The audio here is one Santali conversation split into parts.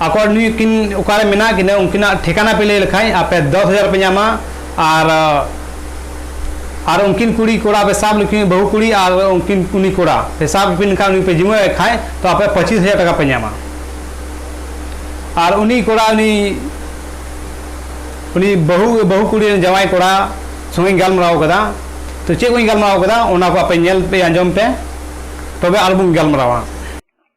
ᱟᱠᱚ ᱱᱩᱭ ᱠᱤᱱ ᱚᱠᱟᱨᱮ ᱢᱮᱱᱟᱜ ᱠᱤᱱᱟ ᱩᱱᱠᱤᱱᱟᱜ ᱴᱷᱤᱠᱟᱱᱟ ᱯᱮ ᱞᱟᱹᱭ ᱞᱮᱠᱷᱟᱱ ᱟᱯᱮ ᱫᱚᱥ ᱦᱟᱡᱟᱨ ᱯᱮ ᱧᱟᱢᱟ ᱟᱨ ᱟᱨ ᱩᱱᱠᱤᱱ ᱠᱩᱲᱤ ᱠᱚᱲᱟ ᱯᱮ ᱥᱟᱵ ᱞᱮᱠᱤᱱ ᱵᱟᱹᱦᱩ ᱠᱩᱲᱤ ᱟᱨ ᱩᱱᱠᱤᱱ ᱩᱱᱤ ᱠᱚᱲᱟ ᱯᱮ ᱥᱟᱵ ᱠᱤᱱ ᱠᱷᱟᱱ ᱩᱱᱤ ᱯᱮ ᱡᱤᱢᱟᱹᱭ ᱠᱷᱟᱱ ᱛᱚ ᱟᱯᱮ ᱯᱚᱸᱪᱤᱥ ᱦᱟᱡᱟᱨ ᱴᱟᱠᱟ ᱯᱮ ᱧᱟᱢᱟ ᱟᱨ ᱩᱱᱤ ᱠᱚᱲᱟ ᱩᱱᱤ ᱩᱱᱤ ᱵᱟᱹᱦᱩ ᱵᱟᱹᱦᱩ ᱠᱩᱲᱤ ᱨᱮᱱ ᱡᱟᱶᱟᱭ ᱠᱚᱲᱟ ᱥᱚᱸᱜᱮᱧ ᱜᱟᱞᱢᱟᱨᱟᱣ ᱠᱟᱫᱟ ᱛᱚ ᱪᱮᱫ ᱠᱚᱧ ᱜᱟᱞᱢᱟᱨᱟᱣ ᱠᱟᱫᱟ ᱚᱱᱟ ᱠᱚ ᱟᱯᱮ ᱧᱮᱞ ᱯᱮ ᱟᱸᱡᱚᱢ ᱯᱮ ᱛᱚᱵᱮ ᱟᱨᱵᱚᱱ ᱜᱟᱞᱢᱟᱨᱟᱣᱟ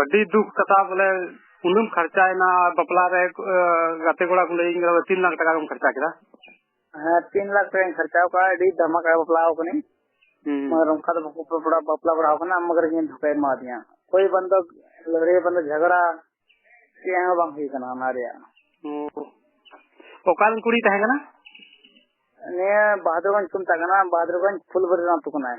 ᱟᱹᱰᱤ ᱫᱩᱠ ᱠᱟᱛᱷᱟ ᱵᱚᱞᱮ ᱩᱱᱟᱹᱜ ᱠᱷᱚᱨᱪᱟᱭᱮᱱᱟ ᱵᱟᱯᱞᱟ ᱨᱮ ᱜᱟᱛᱮ ᱠᱚᱲᱟ ᱠᱚ ᱞᱟᱹᱭᱟᱹᱧ ᱠᱟᱱᱟ ᱛᱤᱱ ᱞᱟᱠᱷ ᱴᱟᱠᱟ ᱠᱚᱢ ᱠᱷᱚᱨᱪᱟ ᱠᱮᱫᱟ ᱦᱮᱸ ᱛᱤᱱ ᱞᱟᱠᱷ ᱴᱟᱠᱟᱧ ᱠᱷᱚᱨᱪᱟ ᱠᱟᱜᱼᱟ ᱟᱹᱰᱤ ᱫᱷᱟᱢᱟᱠᱟ ᱵᱟᱯᱞᱟ ᱟᱠᱟᱱᱟᱹᱧ ᱢᱟᱱᱮ ᱚᱱᱠᱟ ᱫᱚ ᱵᱟᱠᱚ ᱵᱟᱯᱞᱟ ᱵᱟᱯᱞᱟ ᱵᱟᱲᱟ ᱟᱠᱟᱱᱟ ᱢᱟᱜᱟᱨ ᱤᱧ ᱫᱷᱚᱠᱟᱭ ᱮᱢᱟᱫᱤᱧᱟ ᱠᱳᱭ ᱵᱟᱱᱫᱚ ᱞᱟᱹᱲᱦᱟᱹᱭ ᱵᱟᱱᱫᱚ ᱡᱷᱟᱜᱽᱲᱟ ᱪᱮᱫ ᱦᱚᱸ ᱵᱟᱝ ᱦᱩᱭ ᱠᱟᱱᱟ ᱚᱱᱟ ᱨᱮᱭᱟᱜ ᱚᱠᱟᱨᱮᱱ ᱠᱩᱲᱤ ᱛᱟᱦᱮᱸ ᱠᱟᱱᱟ ᱱᱤᱭᱟᱹ ᱵᱟᱦᱟᱫᱩᱨᱜᱚᱸᱡᱽ ᱠᱚ ᱢᱮᱛᱟᱜ ᱠᱟᱱᱟ ᱵᱟᱦᱟᱫᱩᱨᱜᱚᱸᱡᱽ ᱯᱷᱩᱞᱵᱟᱹᱨᱤ ᱟᱹᱛᱩ ᱠᱟᱱᱟᱭ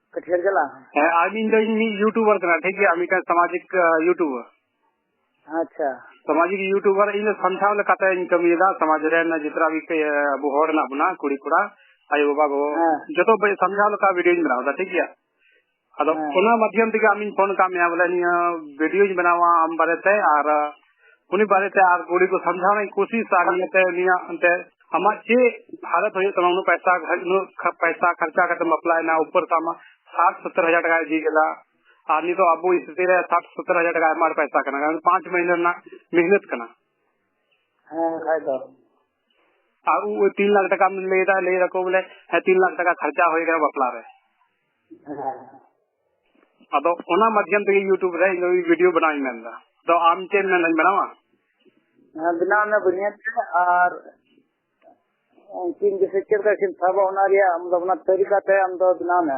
ᱠᱟᱹᱴᱷᱤᱭᱟᱹᱨ ᱡᱮᱞᱟ ᱦᱮᱸ ᱟᱨ ᱤᱧ ᱫᱚ ᱤᱧ ᱢᱤᱫ ᱤᱭᱩᱴᱩᱵᱟᱨ ᱠᱟᱱᱟ ᱴᱷᱤᱠ ᱜᱮᱭᱟ ᱢᱤᱫᱴᱟᱝ ᱥᱟᱢᱟᱡᱤᱠ ᱤᱭᱩᱴᱩᱵᱟᱨ ᱟᱪᱪᱷᱟ ᱥᱟᱢᱟᱡᱤᱠ ᱤᱭᱩᱴᱩᱵᱟᱨ ᱤᱧ ᱫᱚ ᱥᱟᱱᱛᱟᱲ ᱞᱮᱠᱟᱛᱮ ᱤᱧ ᱠᱟᱹᱢᱤᱭᱮᱫᱟ ᱥᱚᱢᱟᱡᱽ ᱨᱮᱱ ᱡᱚᱛᱚ ᱟᱵᱚ ᱦᱚᱲ ᱦᱮᱱᱟᱜ ᱵᱚᱱᱟ ᱠᱩᱲᱤ ᱠᱚᱲᱟ ᱟᱭᱳ ᱵᱟᱵᱟ ᱜᱚ ᱡᱚᱛᱚ ᱥᱟᱢᱡᱷᱟᱣ ᱞᱮᱠᱟ ᱵᱷᱤᱰᱤᱭᱳᱧ ᱵᱮᱱᱟᱣ ᱮᱫᱟ ᱴᱷᱤᱠ ᱜᱮᱭᱟ ᱟᱫᱚ ᱚᱱᱟ ᱢᱟᱫᱽᱫᱷᱚᱢ ᱛᱮᱜᱮ ᱟᱢᱤᱧ ᱯᱷᱳᱱ ᱟᱠᱟᱫ ᱢᱮᱭᱟ ᱵᱚᱞᱮ ᱱᱤᱭᱟᱹ ᱵᱷᱤᱰᱤᱭᱳᱧ ᱵᱮᱱᱟᱣᱟ ᱟᱢ ᱵᱟᱨᱮᱛᱮ ᱟᱨ ᱩᱱᱤ ᱵᱟᱨᱮᱛᱮ ᱟᱨ ᱜᱩᱲᱤ ᱠᱚ ᱥᱟᱢᱡᱷᱟᱣ ᱨᱮᱱᱟᱜ ᱠᱳᱥᱤᱥ ᱟᱨ ᱱᱤᱭᱟᱹᱛᱮ ᱩᱱᱤᱭᱟᱜ ᱚᱱᱛᱮ ᱟᱢᱟᱜ ᱪᱮᱫ ᱦᱟᱞᱚᱛ ᱦᱩᱭᱩᱜ ᱛᱟᱢᱟ ᱩᱱᱟᱹᱜ ᱯᱟᱭᱥᱟ ᱩᱱᱟᱹᱜ ᱯᱟᱭᱥᱟ ᱠᱷᱚᱨᱪᱟ ᱠᱟᱛᱮ ᱵᱟᱯᱞᱟᱭᱮᱱᱟ ᱩᱯᱚᱨ ᱛᱟᱢᱟ ᱥᱟᱴ ᱥᱚᱛᱛᱚᱨ ᱦᱟᱡᱟᱨ ᱴᱟᱠᱟ ᱤᱫᱤ ᱠᱮᱫᱟ ᱟᱨ ᱱᱤᱛᱚᱜ ᱟᱵᱚ ᱥᱛᱷᱤᱛᱤ ᱨᱮ ᱥᱟᱴ ᱥᱚᱛᱛᱚᱨ ᱦᱟᱡᱟᱨ ᱴᱟᱠᱟ ᱟᱭᱢᱟ ᱯᱟᱭᱥᱟ ᱠᱟᱱᱟ ᱠᱟᱨᱚᱱ ᱯᱟᱸᱪ ᱢᱟᱹᱦᱤᱱᱟᱹ ᱨᱮᱱᱟᱜ ᱢᱮᱦᱱᱚᱛ ᱠᱟᱱᱟ ᱦᱮᱸ ᱠᱷᱟᱡ ᱫᱚ ᱟᱨ ᱩ 3 ᱞᱟᱠᱷ ᱴᱟᱠᱟ ᱢᱮᱱ ᱞᱮᱫᱟ ᱞᱮ ᱨᱟᱠᱚ ᱵᱚᱞᱮ ᱦᱮ 3 ᱞᱟᱠᱷ ᱴᱟᱠᱟ ᱠᱷᱟᱨᱪᱟ ᱦᱩᱭ ᱜᱮ ᱵᱟᱯᱞᱟ ᱨᱮ ᱟᱫᱚ ᱚᱱᱟ ᱢᱟᱫᱷᱭᱚᱢ ᱛᱮ ᱭᱩᱴᱩᱵ ᱨᱮ ᱤᱧ ᱵᱷᱤᱰᱤᱭᱳ ᱵᱮᱱᱟᱣ ᱤᱧ ᱢᱮᱱᱫᱟ ᱫᱚ ᱟᱢ ᱪᱮᱫ ᱢᱮᱱ ᱤᱧ ᱵᱮᱱᱟᱣᱟ ᱵᱮᱱᱟᱣ ᱢᱮ ᱵᱩᱱᱤᱭᱟᱹᱫ ᱛᱮ ᱟᱨ ᱩᱱᱠᱤᱱ ᱡᱮᱥᱮ ᱪᱮᱫ ᱞᱮᱠᱟ ᱠᱤᱱ ᱥᱟᱵᱟ ᱚᱱᱟ ᱨᱮᱭᱟᱜ ᱟᱢ ᱫᱚ ᱚᱱᱟ ᱛᱟᱹᱨᱤᱠᱟ ᱛᱮ ᱟᱢ ᱫᱚ ᱵᱮᱱᱟᱣ ᱢᱮ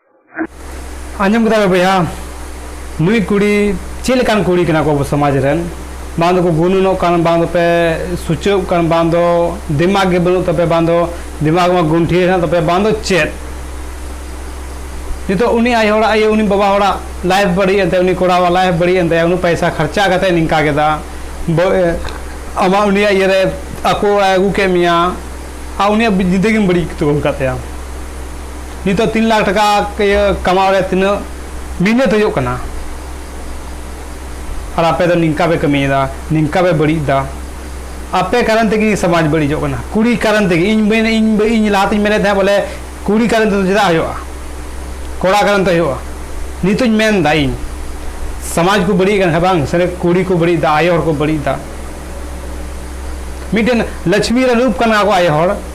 ᱟᱸᱡᱚᱢ ᱠᱮᱫᱟ ᱵᱚᱭᱦᱟ ᱱᱩᱭ ᱠᱩᱲᱤ ᱪᱮᱫ ᱞᱮᱠᱟᱱ ᱠᱩᱲᱤ ᱠᱟᱱᱟ ᱠᱚ ᱟᱵᱚ ᱥᱚᱢᱟᱡᱽ ᱨᱮᱱ ᱵᱟᱝ ᱫᱚᱠᱚ ᱜᱩᱱᱩᱱᱚᱜ ᱠᱟᱱ ᱵᱟᱝ ᱫᱚᱯᱮ ᱥᱩᱪᱟᱹᱜ ᱠᱟᱱ ᱵᱟᱝ ᱫᱚ ᱫᱤᱢᱟᱜᱽ ᱜᱮ ᱵᱟᱹᱱᱩᱜ ᱛᱟᱯᱮ ᱵᱟᱝ ᱫᱚ ᱫᱤᱢᱟᱜᱽ ᱢᱟ ᱜᱩᱱᱴᱷᱤ ᱦᱮᱱᱟᱜ ᱛᱟᱯᱮ ᱵᱟᱝ ᱫᱚ ᱪᱮᱫ ᱱᱤᱛᱚᱜ ᱩᱱᱤ ᱟᱭᱳ ᱦᱚᱲᱟᱜ ᱟᱭᱳ ᱩᱱᱤ ᱵᱟᱵᱟ ᱦᱚᱲᱟᱜ ᱞᱟᱭᱤᱯᱷ ᱵᱟᱹᱲᱤᱡ ᱮᱱ ᱛᱟᱭᱟ ᱩᱱᱤ ᱠᱚᱲᱟᱣᱟᱜ ᱞᱟᱭᱤᱯᱷ ᱵᱟᱹᱲᱤᱡ ᱮᱱ ᱛᱟᱭᱟ ᱩᱱᱟᱹᱜ ᱯᱚᱭᱥᱟ ᱠᱷᱚᱨᱪᱟ ᱠᱟᱛᱮ ᱱᱤᱝᱠᱟ ᱠᱮᱫᱟ ᱟᱢᱟᱜ ᱩᱱᱤᱭᱟᱜ ᱤᱭᱟᱹ ᱨᱮ ᱟᱠᱚ ᱚᱲᱟᱜ ᱟᱹᱜᱩ ᱠᱮᱫ ᱢᱮᱭᱟ ᱟᱨ ᱩᱱᱤᱭᱟᱜ ᱡᱤᱱᱫᱮᱜᱤᱢ ᱵᱟᱹᱲᱤᱡ ᱩᱛᱟᱹᱨ ᱠᱟᱫ ᱛᱟᱭᱟ ᱱᱤᱛᱚᱜ ᱛᱤᱱ ᱞᱟᱠᱷ ᱴᱟᱠᱟ ᱤᱭᱟᱹ ᱠᱟᱢᱟᱣ ᱨᱮ ᱛᱤᱱᱟᱹᱜ ᱢᱤᱦᱱᱟᱹᱛ ᱦᱩᱭᱩᱜ ᱠᱟᱱᱟ ᱟᱨ ᱟᱯᱮ ᱫᱚ ᱱᱤᱝᱠᱟ ᱯᱮ ᱠᱟᱹᱢᱤᱭᱮᱫᱟ ᱱᱤᱝᱠᱟ ᱯᱮ ᱵᱟᱹᱲᱤᱡ ᱮᱫᱟ ᱟᱯᱮ ᱠᱟᱨᱚᱱ ᱛᱮᱜᱮ ᱥᱚᱢᱟᱡᱽ ᱵᱟᱹᱲᱤᱡᱚᱜ ᱠᱟᱱᱟ ᱠᱩᱲᱤ ᱠᱟᱨᱚᱱ ᱛᱮᱜᱮ ᱤᱧ ᱢᱮᱱ ᱤᱧ ᱞᱟᱦᱟᱛᱤᱧ ᱢᱮᱱᱮᱫ ᱛᱟᱦᱮᱸᱫ ᱵᱚᱞᱮ ᱠᱩᱲᱤ ᱠᱟᱨᱚᱱ ᱛᱮᱫᱚ ᱪᱮᱫᱟᱜ ᱦᱩᱭᱩᱜᱼᱟ ᱠᱚᱲᱟ ᱠᱟᱨᱚᱱ ᱛᱮ ᱦᱩᱭᱩᱜᱼᱟ ᱱᱤᱛᱚᱜ ᱤᱧ ᱢᱮᱱ ᱮᱫᱟ ᱤᱧ ᱥᱚᱢᱟᱡᱽ ᱠᱚ ᱵᱟᱹᱲᱤᱡ ᱠᱟᱱᱟ ᱵᱟᱝ ᱥᱟᱹᱨᱤ ᱠᱩᱲᱤ ᱠᱚ ᱵᱟᱹᱲᱤᱡ ᱮᱫᱟ ᱟᱭᱳ ᱦᱚᱲ ᱠᱚ ᱵᱟᱹᱲᱤᱡ ᱮᱫᱟ ᱢᱤᱫᱴᱮᱱ ᱞᱚᱪᱷᱢᱤ ᱨᱮ ᱨᱩᱯ ᱠᱟᱱᱟ ᱠᱚ ᱟᱭᱳ ᱦᱚᱲ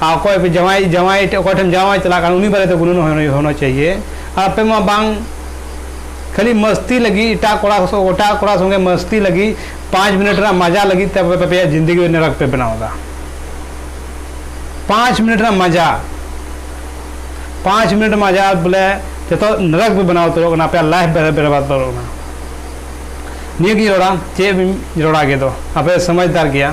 ᱟᱨ ᱚᱠᱚᱭ ᱯᱮ ᱡᱟᱶᱟᱭ ᱡᱟᱶᱟᱭ ᱴᱷᱮᱱ ᱚᱠᱚᱭ ᱴᱷᱮᱱ ᱡᱟᱶᱟᱭ ᱪᱟᱞᱟᱜ ᱠᱟᱱᱟ ᱩᱱᱤ ᱵᱟᱨᱮᱛᱮ ᱜᱩᱱᱟᱹᱱ ᱦᱚᱱᱚ ᱪᱟᱹᱦᱤᱭᱮ ᱟᱯᱮ ᱢᱟ ᱵᱟᱝ ᱠᱷᱟᱹᱞᱤ ᱢᱟᱹᱥᱛᱤ ᱞᱟᱹᱜᱤᱫ ᱮᱴᱟᱜ ᱠᱚᱲᱟ ᱮᱴᱟᱜ ᱠᱚᱲᱟ ᱥᱚᱸᱜᱮ ᱢᱟᱹᱥᱛᱤ ᱞᱟᱹᱜᱤᱫ ᱯᱟᱸᱪ ᱢᱤᱱᱤᱴ ᱨᱮᱱᱟᱜ ᱢᱟᱡᱟ ᱞᱟᱹᱜᱤᱫ ᱛᱮ ᱟᱯᱮ ᱟᱯᱮᱭᱟᱜ ᱡᱤᱱᱫᱮᱜᱤ ᱱᱮᱨᱟᱠ ᱯᱮ ᱵᱮᱱᱟᱣ ᱮᱫᱟ ᱯᱟᱸᱪ ᱢᱤᱱᱤᱴ ᱨᱮᱱᱟᱜ ᱢᱟᱡᱟ ᱯᱟᱸᱪ ᱢᱤᱱᱤᱴ ᱢᱟᱡᱟ ᱵᱚᱞᱮ ᱡᱚᱛᱚ ᱱᱮᱨᱟᱠ ᱯᱮ ᱵᱮᱱᱟᱣ ᱩᱛᱟᱹᱨᱚᱜ ᱠᱟᱱᱟ ᱟᱯᱮᱭᱟᱜ ᱞᱟᱭᱤᱯᱷ ᱵᱮᱨᱵᱟᱫ ᱩᱛᱟᱹᱨᱚᱜ ᱠᱟᱱᱟ ᱱᱤᱭᱟᱹᱜᱤᱧ ᱨᱚᱲᱟ ᱪᱮᱫ ᱵᱤᱱ ᱨᱚᱲᱟ ᱜᱮᱫᱚ ᱟᱯᱮ ᱥᱚᱢᱟᱡᱽᱫᱟᱨ ᱜᱮᱭᱟ